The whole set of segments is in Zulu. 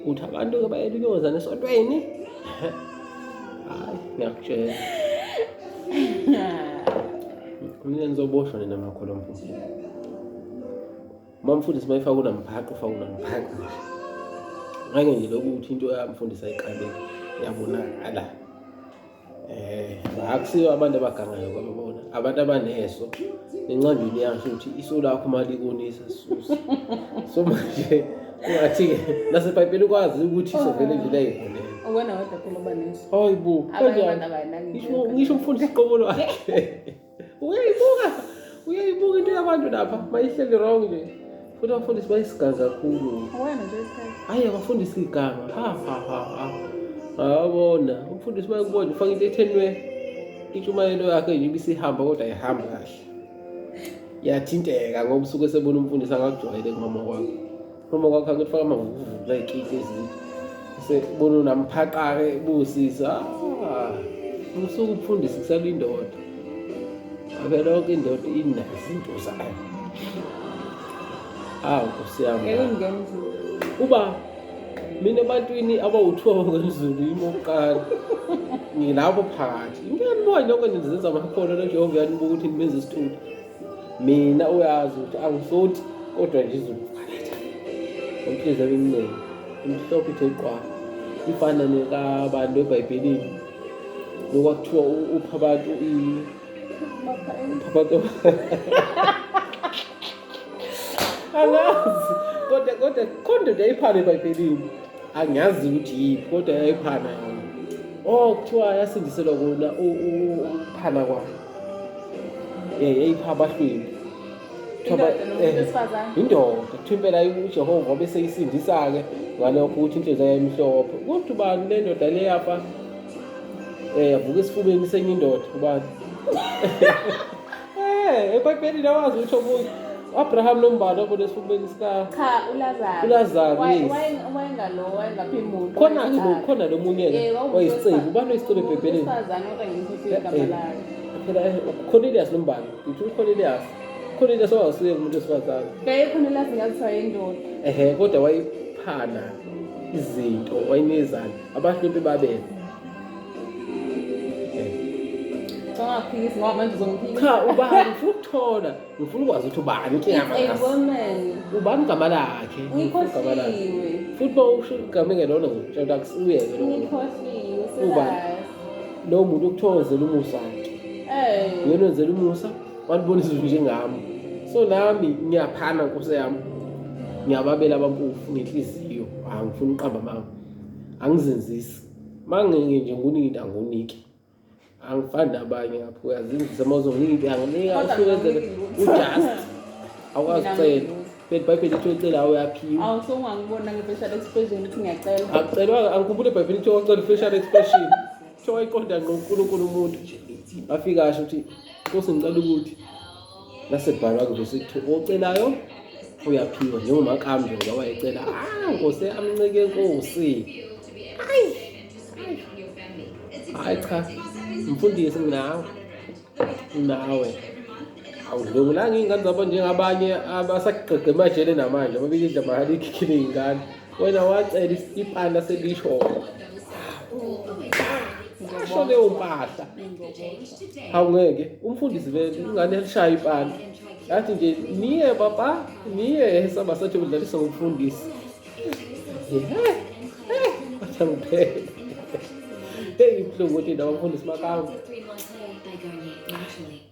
uthi abantu-ke bayela uyozana esontweni hayi ngiyakutshela mina nizoboshwa nina makholo mfundisi uma mfundisi uma efaka unamphaqa ufaka unamphaqa ngake nje lokuthi into yamfundisi ayiqaleki yabonakala eh akusiyo abantu abagangayo kwabona abantu abaneso encwadini yasho ukuthi iso lakho uma likonisa susa so manje ungathi-ke nasebhayibheli ukwazi ukuthi iso vele nje layikhona Uwena wedwa phela oba neso. Hayi bo. Abanye abantu abanakinto. Ngisho ngisho umfundisi qobo lwakhe. uyayibuka uyayibuka into yabantu lapha mayihleli wrong nje futhi abafundisi bayisiganga kakhulu ayi abafundisi liganga awabona umfundisi bayakubona ufake into ethenwe intshumayelo yakhe nje ibisihamba kodwa ayihambi kahle yathinteka ngoba usuke sebona umfundisi angakujwayele kumama kwakhe Uma kwakha ukuthi faka amavuvuvu la ikiki ezini. Sekubona unamphaqa-ke busisa. Ah, usuke ukufundisa kusala indoda. Abe lonke indoda inazo izinto zayo. Awu Nkosi yami. Ngeke ngenze. Uba mina ebantwini abawuthiwa ngokwemzulu yimi okokuqala ngilapho phakathi ngiyanibona lokho nizenza amakhono lejehova uyanibuka ukuthi nimenza isithutha mina uyazi ukuthi angisothi kodwa nje izokucakatha umhliziyo iminingi imhlophe ithe qwa ifana nekabantu ebhayibhelini lokwakuthiwa upha abantu abantu angazi kodwa kodwa khonde nje iphana ebhayibhelini angiyazi ukuthi yiphi kodwa yayiphana yona o oh, kuthiwa yasindiselwa kona ukuphana kwayo um yayipha abahlwembi yindoda kuthiwa impela ujehova obeseyisindisa-ke ngalokho ukuthi inhliziyo yayimhlophe kuthi ubani le ndoda le yafa um yavuka esifubeni senye indoda ubani Eh, eBhayibhelini lawazi ukuthi omunye Abraham lombalo obona esifubeni sika cha ulazaro ulazaro wayengalo wayengaphi muntu khona ke lo khona lo munye ke wayisicebu ubani oyisicebu ebhebheleni umfazana kodwa ngimfisa igama eh, lakhe phela eh, uCornelius lombalo ngithi uCornelius Cornelius wawusuye umuntu wesifazane yaye Cornelius ngazithiwa yindoda ehe kodwa wayiphana izinto wayinezana abahlwempi babele Angaphikisi ngoba manje uzongiphikisa. Cha ubani ngifuna ukuthola. Ngifuna ukwazi ukuthi ubani inkinga It's a yami. woman. Ubani igama lakhe? Ngifuna igama lakhe. Ngikhohliwe. Futhi bawusho igama engelona ngitshela ukuthi uyeke lo muntu. Ngikhohliwe. Ubani? Sizazi. Lo muntu ukuthokozela umusa wakhe. Eh. Yena wenzela umusa, walibona izulu njengami. So nami ngiyaphana nkosi yami. Ngiyababela abampofu ngenhliziyo. Angifuni uqamba mama. Angizenzisi. Mangingi nje ngunina ngunike. Angifani nabanye ngapha uyazinzisa mawuzongingi into yanginika usuwenzele ujust. Awukwazi ucela. Phela iBhayibheli lithi ocela awuyaphiwa. Awu so ungangibona nge-facial expression ukuthi ngiyacela. Akucelwa angikhumbule iBhayibheli lithi ocela facial expression. Kuthiwa wayiqonda ngqo uNkulunkulu umuntu. Afika asho ukuthi Nkosi ngicela ukuthi lase bhala nje sithi ocelayo uyaphiwa njengoba kambe ngoba wayecela ah nkosi amncike nkosi hayi hayi cha mfundisi nginawe nawe awudlungulanga iy'ngane zabo njengabanye abasagqegqe emajele namanje ababikidla mahali ikhikhile iy'ngane wena wacela ipanda selishona asho leyo mpahla awungeke umfundisi vele ingane elishaya ipanda yathi nje niye baba niye saba sathi udlalisa ngomfundisi athangiphe hey ibuhlungu ukuthi ndabafundisi makawu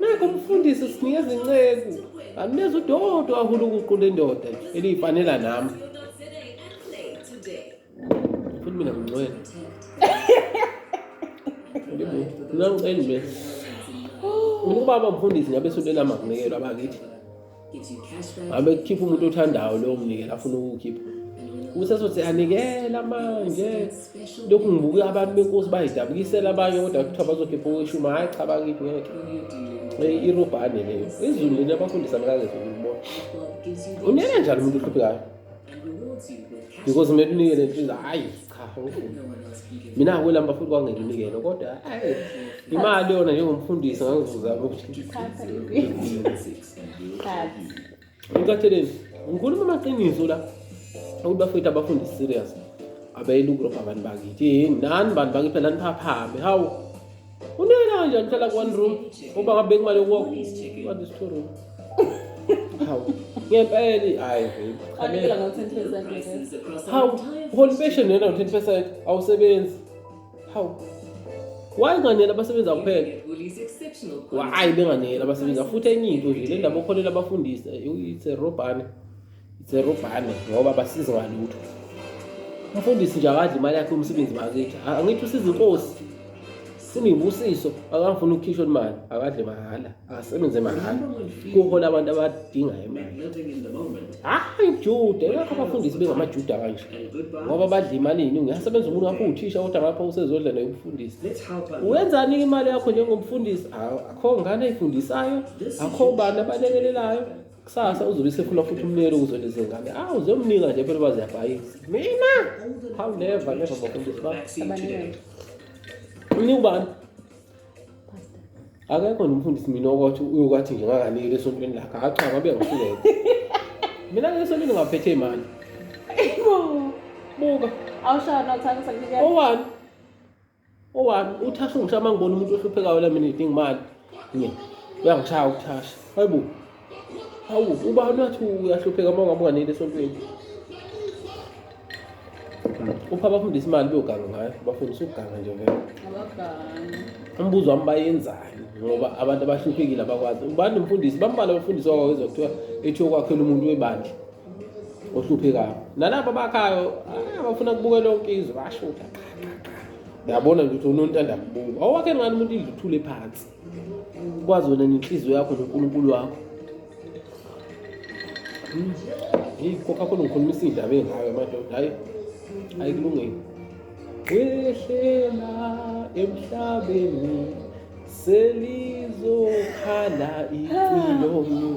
Nakho umfundisi sinikeza inceku. Angineza udodo ahulu ukuqula indoda eliyifanela nami. Futhi mina ngingcwele. Ngicela nje. Mina ubaba mfundisi ngabe sonto elama nginekelwa bakithi. ngabe kukhipha umuntu othandayo lowo mnikelo afuna ukuwukhipha ukuthi azothi anikela manje lokhu ngibuke abantu benkosi bayidabukisela abanye kodwa kuthiwa bazokhipha okweshumi hhayi cha bakithi ngeke irobhane leyo izulu lena abafundisa mkangezulu ukubona unena njani umuntu ohluphekayo because kumele unikele nje hhayi cha awufuni mina akwelamba futhi kwangekinikelo kodwa ayi imali yona njengomfundisi ngangivuza ukuthi ngikatheleni ngikhuluma amaqiniso la ukuthi bafethu abafundi serious abeyela ukurobha abantu bakithi yini nani bantu bakithi phela niphaphame hawu Unina kanjani hlala ku one room ngoba kabeki imali yokuwa what is two room. Hawu. Ngempela hayi babe. Anikela ngo 10% ngeke. Hawu, holi pension yena ngo 10% awusebenzi. Hawu. Why nganela abasebenzi akuphela? Why benganela abasebenzi afuthi enye into nje le ndaba okholela abafundisi eh, it's a robhane. Zerubhane ngoba basize ngalutho. Umfundisi nje akadli imali yakhe umsebenzi bakithi. Angithi usiza inkosi. Sinibusiso akafuna ukukhishwa imali, akadle mahhala, akasebenze mahhala. Kuhola abantu abadinga imali. Hayi Juda, yakho abafundisi bengamaJuda kanje. Ngoba badla imali iningi. Uyasebenza umuntu wakho uthisha kodwa ngapha usezodla nayo umfundisi. Wenzani imali yakho njengomfundisi? Akho ngane ifundisayo, akho bani abalekelelayo. kusasa uzobe sekhula futhi umnikelo ukuzwela izingane awu uzomnika nje phela uba ziyabhayisa mina how never never bafundisi ba umnika ubani akekho nomfundisi mina okwathi uyokwathi nje ngakanikeli esontweni lakhe hacha ngabe ngifike mina ke esontweni ngaphethe imali buka awushaya nothanda sakunikela owani Owami uthasha ungishaya uma ngibona umuntu ohluphekayo la mina ngidinga imali. Nge. Uyangishaya ukuthasha. Hayibo. Hawu uba nathi uyahlupheka uma ungabe unganeli esontweni. Upha abafundisa imali beyoganga ngayo. Bafundisa ukuganga nje ngeke. Abaganga. Umbuzo wami bayenzani ngoba abantu abahluphekile abakwazi. Ubani umfundisi? Bambalwa abafundisi wakwazi kuthiwa ethi okwakhela umuntu webandla. ohluphekayo nalabo bakhayo ah, bafuna kubuke lonke izwe basho ukuthi uyabona nje ukuthi unontanda kubuka awuwakhe ngani umuntu indlu uthule phansi kwazi wena nenhliziyo yakho nonkulunkulu wakho hmm. heyi kokha khona ngikhulumisa iy'ndaba ey'ngayo madoda hayi hayi kulungile wehlela emhlabeni selizokhala impilo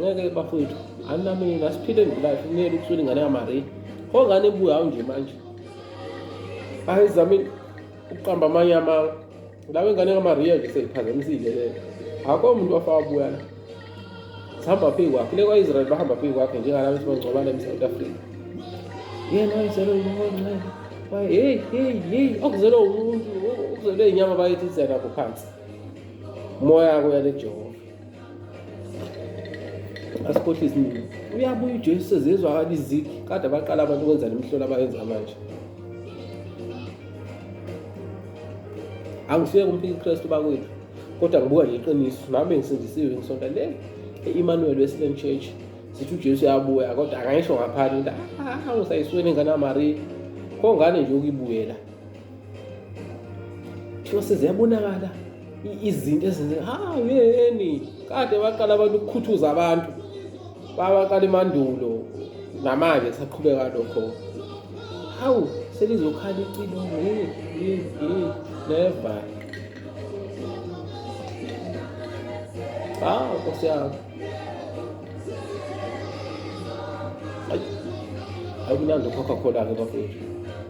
ngeke bafowethu anami ngasiphile ngilife kumele ukusula ingane yamari pho ngane ebuya hawu nje manje hayi zami ukuqamba amanye ama lawe ingane kamariya nje seyiphazamisile leyo akho umuntu wafaka buya la sihamba phezu kwakhe le kwa-israyeli bahamba phezu kwakhe njengalaba esibangcobala emsouth africa yena wayizelwe umoncele heyi heyi heyi okuzelwe umuntu okuzelwe inyama bayethi izelakho phansi moya kuya lejehova asikhohlwe isiningi uyabuya ujesu sezizwakala izigi kade abaqala abantu ukwenza le mihlola abayenza manje angisuye kumphika ukristu bakwethu kodwa ngibuka nje iqiniso nami ngisindisiwe ngisonta le e-emmanuel western church sithi ujesu uyabuya kodwa akayisho ngaphandle ukuthi ah, usayisweni ingane yamariya kongane nje ukuyibuyela kuthiwa seziyabonakala izinto ezenzeka ha yeni kade baqala abantu ukukhuthuza abantu babaqala emandulo namanje kusaqhubeka lokho hawu selizokhala icilo neva hawu nkosi yami akunandi ukhokha khona-ke bafethu